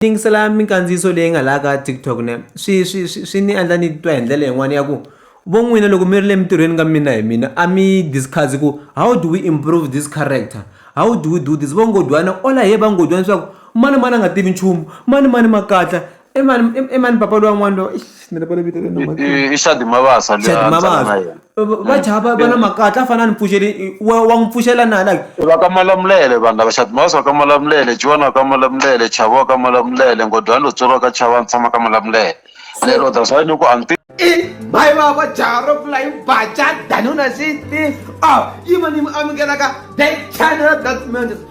yingisela minkandziyiso leyi nga laha ka TikTok ne swi swi swi swi ni endla ni titwa hi ndlela yin'wana ya ku vo n'wina loko mi ri le mintirhweni ka mina hi mina a mi discuss ku how do we improve this character how do we do this vo nghojwana all i hear va nghojwana swa ku mani mani a nga tivi nchumu mani mani makatla i mani i mani papa luya n'wana luya eish ni lava ku vito ra yena mhani i Shadi Mabasa luya a ni tshama na yena. va dzaha va va na makatla a fane a ni pfuxeli wa wa n'wi pfuxela na like. I va ka Malamulele vanhu lava Xatimasi wa ka Malamulele Jiwani wa ka Malamulele Chavo wa ka Malamulele Nghondyani lo tsweriwa ka Chava ni tshama ka Malamulele ni i mhai vava jaha ro kula yi baca danuna sixteen a yima ni mi amukelaka the channel that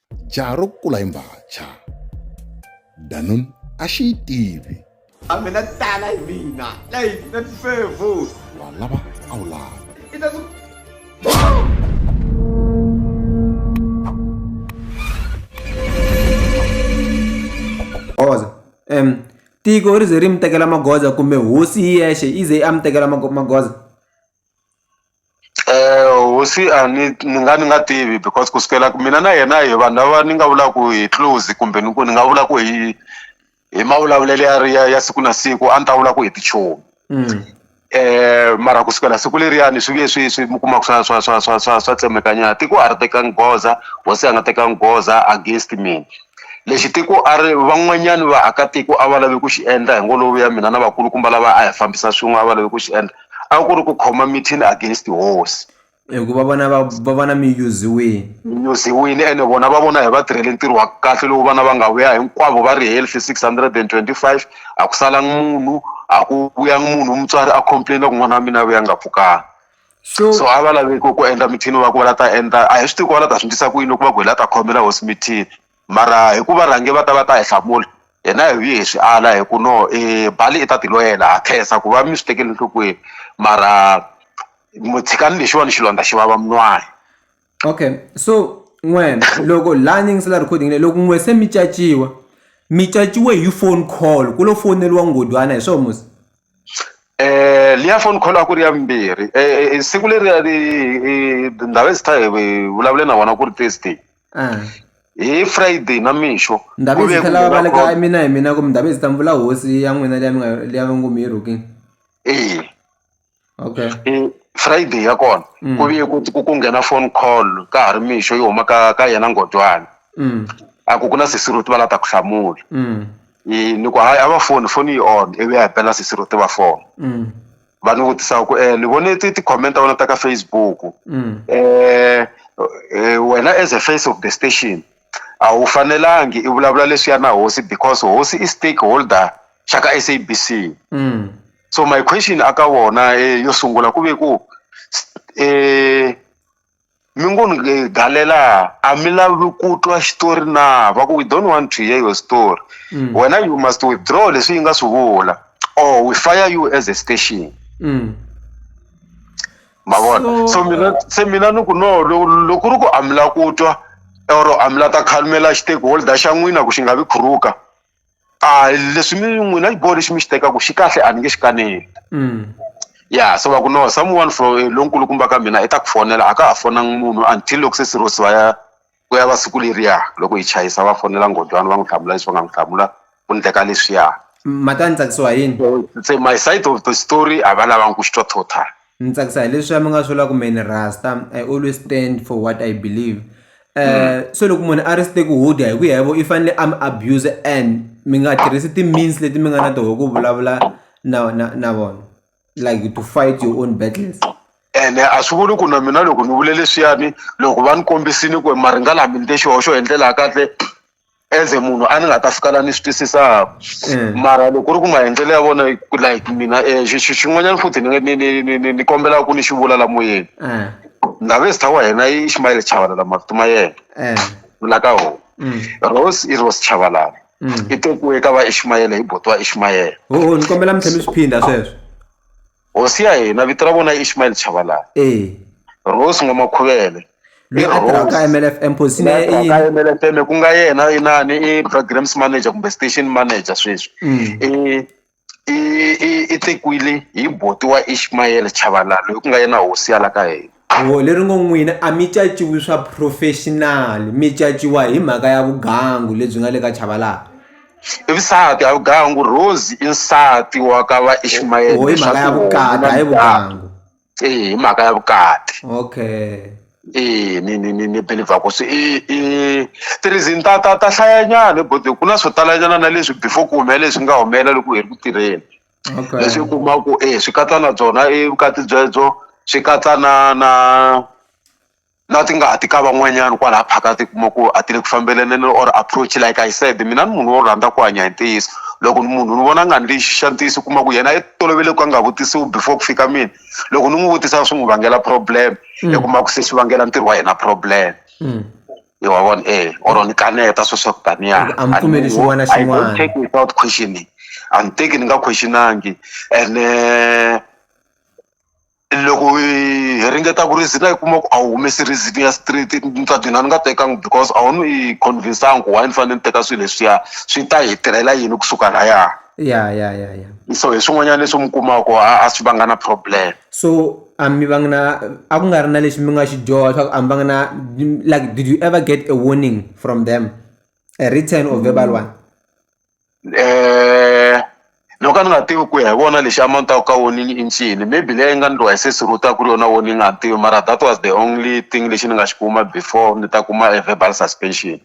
jaha ro kula hi mbhacha danun a xi yi tivi a mina tala hi mina leyi na tifevo wa lava a wu lava goza um tiko ri ze ri mi tekela magoza kumbe hosi hi yexe yi ze yi a mi tekela magoza Hosi a ni ni nga ni nga tivi because ku sukela ku mina na yena hi vanhu lava ni nga vulaka ku hi close kumbe ni ku ni nga vula ku hi hi ma vulavulelo ya ri ya ya siku na siku a ni ta vula ku hi tichomi mara ku sukela siku leriyani swi vuye swi swi mi kuma ku swa swa swa swa swa swa tsemeka nyana tiko a ri tekanga goza hosi a nga tekanga goza against mina lexi tiko a ri van'wanyani vaakatiko a va lave ku xi endla hi ngo lo vuya mina na vakulukumba lava a hi fambisa swin'we a va lave ku xi endla. a ku ri ku khoma meeting against hosi hikuva vana va va vana mi yuziwile mi yuziwile ene vona va vona hi va tirhele ntirho wa kahle lowu vana va nga vuya hinkwavo va ri healthy six hundred and twenty five a ku salangi munhu a ku vuyangi munhu mutswari a complaina ku n'wana wa mina a vuya nga pfukanga so so a va laveki ku endla mithini va ku va la ta endla a hi swi tivi ku va la ta swi ndlisa ku yini loko va ku hi la ta khomela hosi mithini mara hi ku varhange va ta va ta hi hlamula hina hi vuye hi swi ala hi ku no i e, bali i ta tiloyela ha khensa ku va mi swi tekele nhlokweni mara tshikani lexiwani xilondza xi vava mun'wana okay so n'wena loko laha ni yingisela recording leyi loko n'we se mi caciwa mi caciwe hi phone call ku lo foneriwa ngodwana hi swona musi eh liya phone call a ku ri ya mbirhi eh, eh, eh siku leri ri ndhawu ezitha hi vulavule na vona ku ri thursday Ah. hi friday na mixo ndhavizi ta lava va le ka mina hi mina kumbe ndhavizi ta mvula hosi ya n'wina leya mi nga leya va ngo mi yi rhuking ee okay e, friday ya kona mm. ku viye ku ku nghena phone call ka ha ri mixo yi huma ka ka yena ngodwana mm. a ku ku na sisiruti va la ta ku hlamula mm. ni ku hayi a va foni foni yi on ivi ya hi pela sisiruti va fona va ni vutisa ku um ni vone ti ti-comment ta wena ta ka Facebook um wena as a face of the station a wu fanelangi i vulavula leswiya na hosi because hosi i stake holder xa ka S_A_B_C so my question a ka vona yo sungula ku ve ku . mi ngo ni nge galela a mi lavi ku twa xitori na va ku we don't want to hear your story mm. wena you must withdraw leswi yi nga swi vula or we fire you as a station mm. mavona so, so mina se mina ni ku no loko ri ku a mi la ku twa or a mi la ta khalumela xiteki holder xa n'wina ku xi nga vi khuruka a leswi mi n'wina xiboho lexi mi xi tekaka xi kahle a ni nge xi kaneli mm. ya se va ku no someone from eh, lonkulukumba ka mina i ta ku fonela a ka ha fonanga munhu until loko se sirosi va ya ku ya va siku leriya loko hi chayisa va fonela ngodwana va n'wi hlamula leswi va nga n'wi hlamula ku ndleka leswiya mhaka ni tsakisiwa yini se my side of the story a va lavangi ku xi twa total Ni tsakisa hi leswiya mi nga swi vula ku mehe ni rasta I always stand for what I believe se loko munhu a ri stakehold hi ku ya hi vo i fanele a mi abuser and mi nga tirhisi ti-means leti mi nga na toho ku vulavula na na na vona like to fight your own battles. ene a swi vuli ku na mina loko ni vule leswiyani loko va ni kombisile ku maringa lama ni te xihoxo hi ndlela ya kahle as a munhu a ni nga ta fika la ni swi twisisaka mm. mara loko ku ri ku maendlelo ya vona like mina um xin'wanyana futhi ni kombelaka ku ni xi vula la moyeni mm. ndhaves ta wa hina i ximayele chavalala mavito ma yena mm. vula ka hona rose i rose chavalala i tekiwe ka va ishimayele hi botiwa ishimayele ni kombela mi tlhe mi swi phinda sweswo Hosi ya hina vito ra vona i Ishmael Chabalala. Eya. Rose N'wamakhuvele. Loyi a tirhaka ka MLFM position ya yena i yini? Ka MLFM ku nga yena inani i programs manager kumbe station manager sweswi. I i i tekiwile hi buti wa Ishmael Chabalala loyi ku nga yena hosi ya la ka hina. Huvo leri ngo n'wina a mi caciwi swa professional mi caciwa hi mhaka ya vugangu lebyi nga le ka Chabalala i vusati a vugangu Rose i nsati wa ka va Ishmael hi mhaka ya vukati hi vugangu eh hi mhaka ya vukati okay eh ni ni ni ni believer ku swi i i tirizini ta ta ta hlayanyana bo ku na swo talanyana na leswi before ku humelela leswi nga humelela loko hi ri ku tirheni Okay. leswi u kuma ku e swi katsa na byona i vukati byebyo swi katsa na na na tingati ka van'wanyana kwalaha phakati u kuma ku a ti le ku fambelaneni or approach like I said mina ni munhu wo rhandza ku hanya hi ntiyiso loko ni munhu ni vona a nga ni lexi xa ntiyiso u kuma ku yena i tolovele ku a nga vutisiwi before ku fika mina loko ni n'wi vutisa swi n'wi vangela problem i kuma ku se swi vangela ntirho wa yena problem. Hi wa vona e or ni kaneta swo swa ku taniya Loko a mi pfumeli xin'wana na I don't xin'wana. take without questioning a ni teki ni nga question-angi ene loko hi hi ringeta ku reason-a yi kuma ku a wu humesi reason ya straight ni ta gina ni nga tekangi because a wu ni yi convince-angi ku why ni fanele ni teka swilo leswiya swi ta hi tirhela yini kusuka laya ya ya ya ya so hi swin'wanyana leswi mi kumaku a a swi vanga na problem. So a mi va nga na a ku nga ri na lexi mi nga xi dyoha swa ku a mi va nga na like did you ever get a warning from them a written or verbal one. No ka ni nga tivi ku ya hi vona lexi a ma ni ta ku ka warning i ncini maybe leyi nga ni twa hi se siruta ku ri yona warning a ni tivi mara that was the only thing lexi ni nga xi kuma before ni ta kuma a verbal suspension.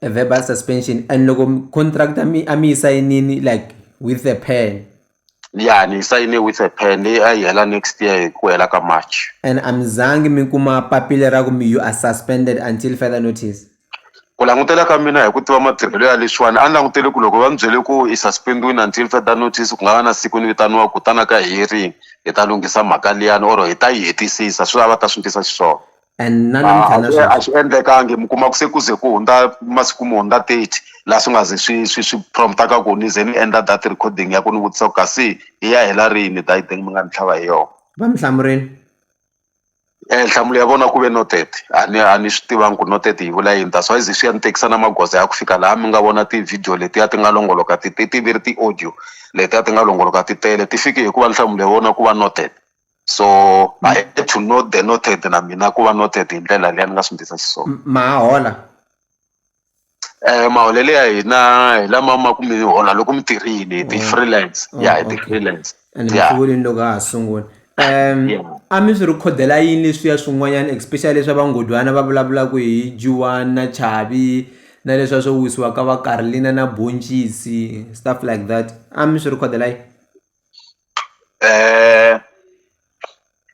A verbal suspension and loko contract a mi a mi yi sayinile like with a pen. ya ni yi sayine with a pen leyi a yi hela next year hi ku hela ka march and a mi zangi mi kuma papila ra ku mi you are suspended until further notice ku langutela ka mina hi ku tiva matirhelo ya leswiwani a ni langutele ku loko va mi byele ku i suspendiwini until further notice ku nga va na siku ni vitaniwa ku tana ka hearing hi ta lunghisa mhaka liyani or hi ta yi hetisisa swi lava va ta swi ndlisa xiswona and na namuntlha na sweswi. a swi endlekangi mi kuma ku se ku ze ku hundza masiku mo hundza thirty laha swi nga ze swi swi swi prompt-aka ku ni ze ni endla that recording ya ku ni vutisa ku kasi yi ya hela rini that thing mi nga ni tlhava hi yona va mi hlamurini um nhlamulo ya vona ku ve noted a ni a ni swi tivangi ku noted yi vula yini that's why ze swi ya ni tekisa na magoza ya ku fika laha mi nga vona ti-video letiya ti nga longoloka ti ti ti ve ri ti-audio letiya ti nga longoloka ti tele ti fike hikuva nhlamulo ya vona ku va noted so I had to know the noted na mina ku va noted hi ndlela leyi a ni nga swi ndlisa xiswona ma ha hola eh maholelo ya hina hi lama ma ku mi hola loko mi tirhile hi ti oh. freelance oh, ya hi ti freelance and mi swi vonile loko ha sungula um a mi swi rhikhodela yini leswiya swin'wanyana especially leswa vangodwana va vulavulaka hi juwan na chavi na leswiya swo wisiwa ka vakarlina na boncisi stuff like that a mi swi rhikhodela yini um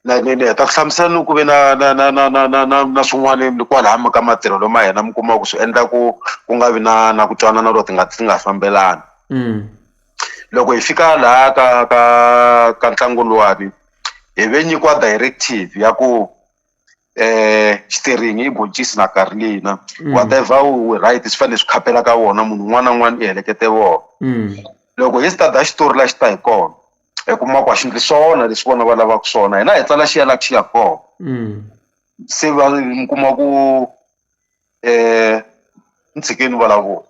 na ni ni heta ku hlamusela ni ku ve na na na na na na na na swin'wani kwalaya ka matirhelo ma hina mi kuma ku swi endla ku ku nga vi na na ku twanana or ti nga ti nga fambelani loko hi fika laha ka ka ka ntlangu luwani hi ve nyikiwa directive ya ku xiteringi i boncisi na karolina whatever u right swi fanele swi khapela ka wona munhu un'wana na un'wana i helekete vona loko hi start-a xitori laha xi ta hi kona i kuma ku a xi endli swona leswi vona va lavaka swona hina hi tsala xi ya laha xi yaka kona se va mi kuma ku. eh ni tshike ni vulavula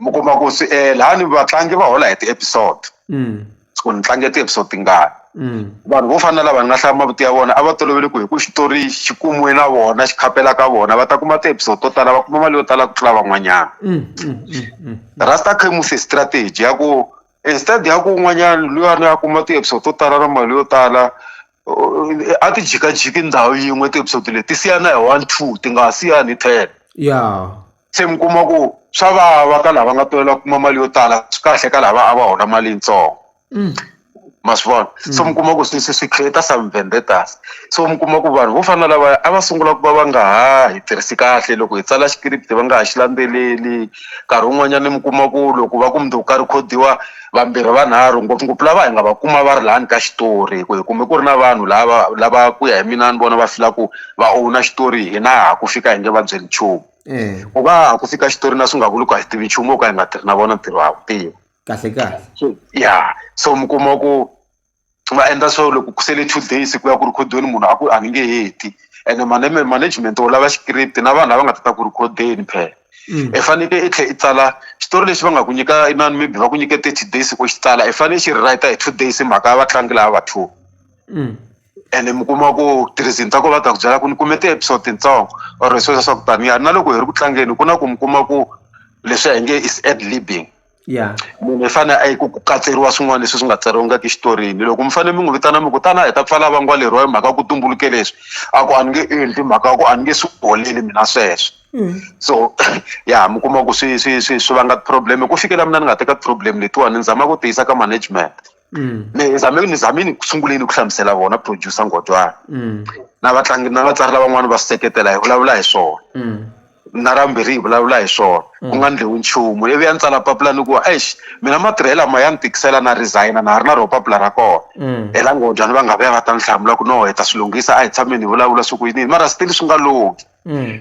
mi kuma ku swi eh lani vatlangi va hola hi ti-episode mm. ku ni tlange ti-episode tingani mm. vanhu vo fana na lava ni nga hlaya mavito ya vona a va tolovele ku hi ku xitori xi kumiwe na vona xi khapela ka vona va ta kuma ti-episode to tala va kuma mali yo tala ku tlula van'wanyana mm, rasta cremus strategy ya ku instead ya ku un'wanyana luyani a kuma ti-episode to tala na mali yo tala a ti jikajiki ndhawu yin'we ti-episode leti ti siyana hi one two ti nga ha siyani hi ten ya se mi kuma ku swa vava ka lava nga tolela kuma mali yo tala swi kahle ka lava a va hola mali yitsongo mm. ma swi vona mm. so mi kuma ku swi swi swi create some vendettas so mi kuma ku vanhu vo fana na lavaya a va sungula ku va va nga ha hi tirhisi kahle loko hi tsala xikiripiti va nga ha xi landzeleli nkarhi wun'wanyani mi kuma ku loko va ku muti wo karhi khodiwa vambirhi vanharhu ngopfungopfu lava hi nga va kuma va ri lani ka xitori hi ku hi kume ku ri na vanhu lava lava ku ya hi mina ni vona va fila ku va owuna xitori hina ha ku fika hi nge va byeli nchumu ku va ha ku fika xitori na swi nga vuli ku a hi tivi nchumu wo ka hi nga tirhi na vona ntirho ha wu tiva kahle kahle ya so mi kuma ku va endla swo loko ku sele two days ku ya ku rhikhodeni munhu a ku a ni nge heti ene maneme management u lava script na vanhu lava nga ta ta ku rhikhodeni phela Mm. i fanekele i tlhela i tsala xitori lexi va nga ku nyika inani maybe va ku nyike thirty days u xi tsala i fanele xi write hi two days hi mhaka ya vatlangi lava va two Mm. ene mi kuma ku tirhizini ta ko va ta ku byela ku ni kume ti-episode tintsongo or sweswo swa ku taniya na loko hi ri ku tlangeni ku na ku mi kuma ku leswi a hi nge is ad libbing ya munhu i fane a yi ku ku katseriwa swin'wana leswi swi nga tsariwangiki xitorini loko mi fanele mi n'wi vitana mi ku tana hi ta pfala vangwa leriwa hi mhaka ya ku tumbuluke leswi a ku a ni nge endli mhaka ya ku a ni nge swi holeli mina sweswo so ya mi kuma ku swi swi swi swi vanga problem ku fikela mina ni nga teka problem letiwani ni zama ku tiyisa ka management Mm. ni zame ni zame ni sunguleni ku hlamusela vona producer Nghodyana Mm. na vatlangi na vatsari lavan'wana va swi seketela hi vulavula hi swona Mm. na rambirhi hi vulavula hi swona ku nga ndliwi nchumu ivi ya ni tsala papila ni ku eish mina matirhelo lama ya ni tikisela na resigna na ha ri na ro papila ra kona Mm. hela Nghodyana va nga va ya va ta ni hlamula ku no hi ta swi lunghisa a hi tshameni hi vulavula swi ku yiniyini mara still swi nga lunghi Mm.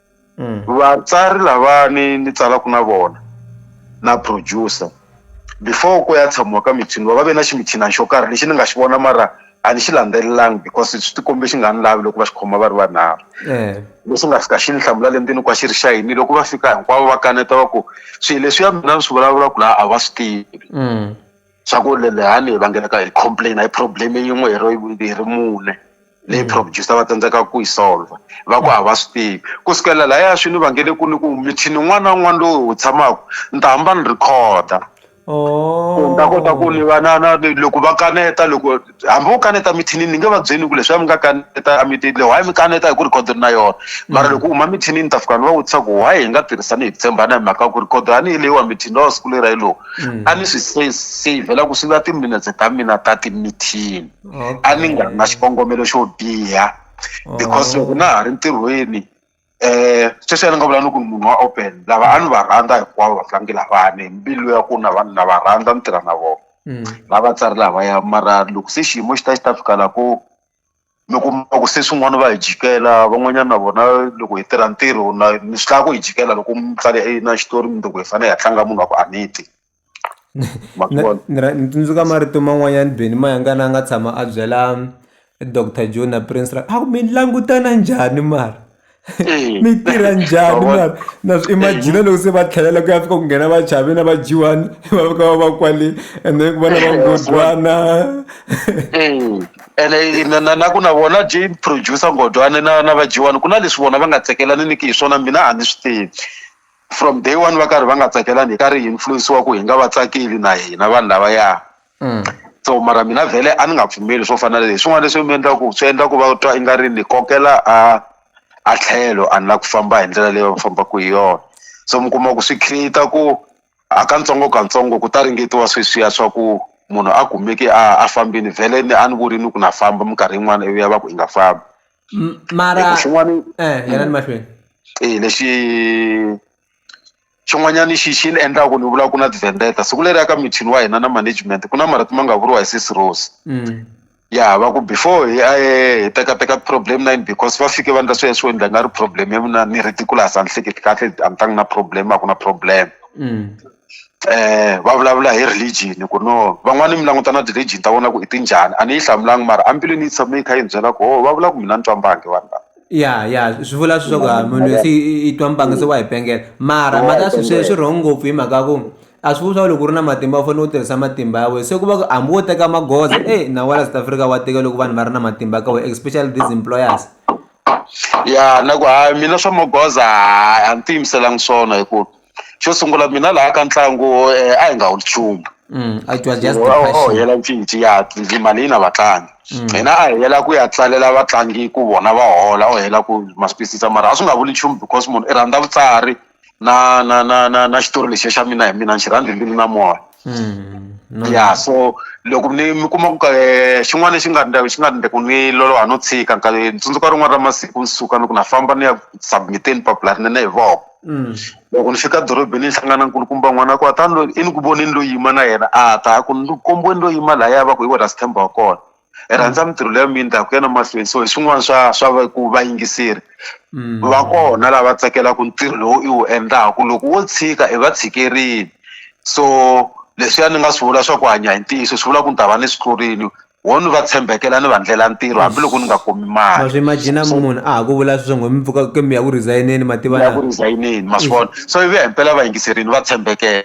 vatsari lavani ni tsalaku na vona na producer before ku ya tshamiwa ka mithiniwa va ve na ximithinani xo karhi lexi ni nga xi vona mara a ni xi landzelelanga because swi ti kombe xi nga ni lavi loko va xi khoma va ri vanharhu lexi nga fika xi ni hlamula le ndzeni ku a xi ri xa yini loko va fika hinkwavo va kaneta va ku swi leswiya mina ni swi vulavulaku la a va swi tivi. swa ku le lani hi vangelaka hi complain-a hi problem yin'we hi ri hi ri mune leyi producer va tsandzekaka ku yi solver va ku a va swi tivi ku sukela lahaya swi ni vangele ku ni ku mithini wun'wana na wun'wana lowu hi wu tshamaka ni ta hamba ni record-a ku ni ta kota ku ni va na na loko va kaneta loko. hambi wo kaneta mithinini ni nge va byeli ku leswi a mi nga kaneta a mi ti le why mi kaneta hi ku record ri na yona mara loko u huma mithinini ta fika ni va vutisa ku why hi nga tirhisani hi ku tshembana hi mhaka ku record a ni yi leyiwa mithini lowa siku leri a yi lowu a ni swi se savela ku swi va timinetse ta mina ta timithini a ni nga ri na xikongomelo xo biha because loko na ha ri ntirhweni sweswiya ni nga vula ni ku ni munhu wa open lava a ni va rhandza hinkwavo vatlangi lavawani hi mbilu ya ku na vanhu na va rhandza ni tirha na vona na vatsari lavaya mara loko se xiyimo xi ta xi ta fika laha ku mi kuma ku se swin'wana va hi jikela van'wanyana na vona loko hi tirha ntirho na ni swi lava ku hi jikela loko mutsari a yini na xitori mundzuku hi fanele hi ya tlanga munhu wa ku a ni ti. ma swi vona ni ni tsundzuka marito man'wanyana Benny Mayengani a nga tshama a byela doctor John na Prince a ku mi langutana njhani mara mi tirha njhani mara na swi imagine loko se va tlhelela ku ya fika ku nghena va chavi na va dyiwani va fika va va kwale and then ku va na va ngo dwana ene na na na ku na vona Jane producer Nghondwani na na vadyiwani ku na leswi vona va nga tsakelaniku hi swona mina a ni swi tivi. from day one va karhi va nga tsakelani hi ka ri influenciwa ku hi nga va tsakeli na hina vanhu lavaya mm. so mara mina vhele a ni nga pfumeli swo fana leswi swin'wana leswi mi endla ku swi endla ku va twa i nga ri ni kokela a a tlhelo a ni la ku famba hi ndlela leyi va fambaka hi yona so mi kuma ku swi create-a ku a ka ntsongo ka ntsongo ku ta ringetiwa sweswiya swa ku munhu a kumeki a a fambini vhele ni a ni vuri ni ku na famba minkarhi yin'wana ivi ya va ku i nga fambi mara xin'wana eh, yena ni mahlweni eh lexi xin'wanyana xi xi ni endlaka ni vula ku na tivendeta siku leri ya ka mithini wa hina na management ku na marito ma nga vuriwa hi sisi rose mm. ya va ku before hi a hi tekateka problem nine because va fike va ndla swi ya swo endla nga ri problem ya mina ni ridiculous a ni hleketi kahle a ni tangi na problem a ku na problem mm. va vulavula hi religion ku no van'wani mi languta na ti-religion ta vona ku i ti njhani a ni yi hlamulanga mara a mbilwini yi tshame yi kha yi ni byela ku ho va vula ku mina ni twa mbangi vanhu lava. ya ya swi vula leswaku a munhu loyi se i- i- i twa mbangi se wa hi pengela mara Wa mhaka hi swi swi pengela. swi wrong ngopfu hi mhaka ya ku a swi vuli swa loko u ri na matimba u fanele u tirhisa matimba ya wena se ku va ku hambi wo teka magoza e nawu wa la south africa wa tika loko vanhu va ri na matimba ka wena especially these employers ya na ku hayi mina swa magoza hayi a ni tiyimiselanga swona hi ku xo sungula mina laha ka ntlangu eh, a hi nga wu nchumu Mm, it was just the Wa- wa- wa passion. hela mpfinci ya ndzi mali yi na vatlangi Mm. hina a hi hela ku ya tsalela vatlangi ku vona va hola o hela ku maspisisa mara a swi nga vuli nchumu because munhu i rhandza vutsari na na na na na xitori lexiya xa mina hi mina ni xi rhandzi mbilu na moya Mm, no, ya so loko ni mi kuma ku ka eh, xin'wana lexi nga ndla- xi nga ndle ku ni loloha no tshika nkarhi tsundzuka rin'wana ra masiku ni suka ni ku na famba ni ya submiteni papila rinene hi voko loko ni fika dorobeni ni hlangana na nkulukumba n'wana wa kona tani loyi i ni ku voneni lo yima na yena a ta a ku ni kombiweni lo yima lahaya va ku hi wena Sithemba wa kona hi rhandza mintirho leya mina ni ta ku ya na mahlweni so hi swin'wana swa swa ku vayingiseri va kona lava tsakelaka ntirho lowu i wu endlaku loko wo tshika i va tshikerini so leswiya ni nga swi vula swa ku hanya hi ntiyiso swi vula ku ni ta va ni swi tlurini wo ni va tshembekela ni va ndlela ntirho hambiloko ni nga kumi mali ma swi imagine munhu a ha ku vula sweswo ngo mi pfuka ke mi ya ku resign-eni ma tiva ya ku resign-eni ma swi vona so ivi ya himpela vayingiserini va tshembekela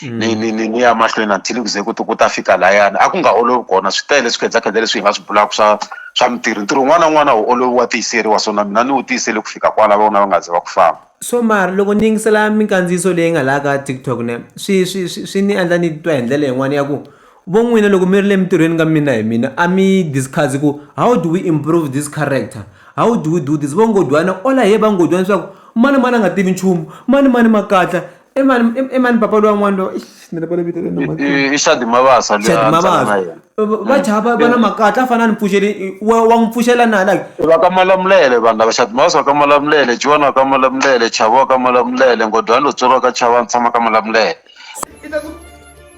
mm. ni ni ni ni ya mahlweni until ku ze ku ku ta fika layani a ku nga olovi kona swi tele swikhedzakhedza leswi hi nga swi bulaka swa swa mintirho ntirho un'wana na un'wana wu olovi wa tiyiseriwa so na mina ni wu tiyisele ku fika kwala vona va nga ze va ku famba so mara loko ni yingisela minkandziyiso leyi nga laha ka tiktok ne swi swi swi ni endla ni twa hi ndlela yin'wana ya ku Vo n'wina loko mi ri le mintirhweni ka mina hi mina a mi yi discuss ku how do we improve this character, how do we do this? Vo Nghojwana all I hear va Nghojwana swa ku mani mani a nga tivi nchumu, mani mani makatla, i mani i mani papa luya n'wana luya eish ni rivale vito ra yena mhani. I Shadi Mabasa luya Shadi Mabasa. Va jaha va va na makatla a fanele a ni pfuxele wa wa n'wi pfuxela na like. I va ka Malamulele vanhu lava Shadi Mabasa wa ka Malamulele, Jiwani wa ka Malamulele, Chavo wa ka Malamulele, Nghojwana lotsweriwa ka Chavo a ni tshama ka Malamulele.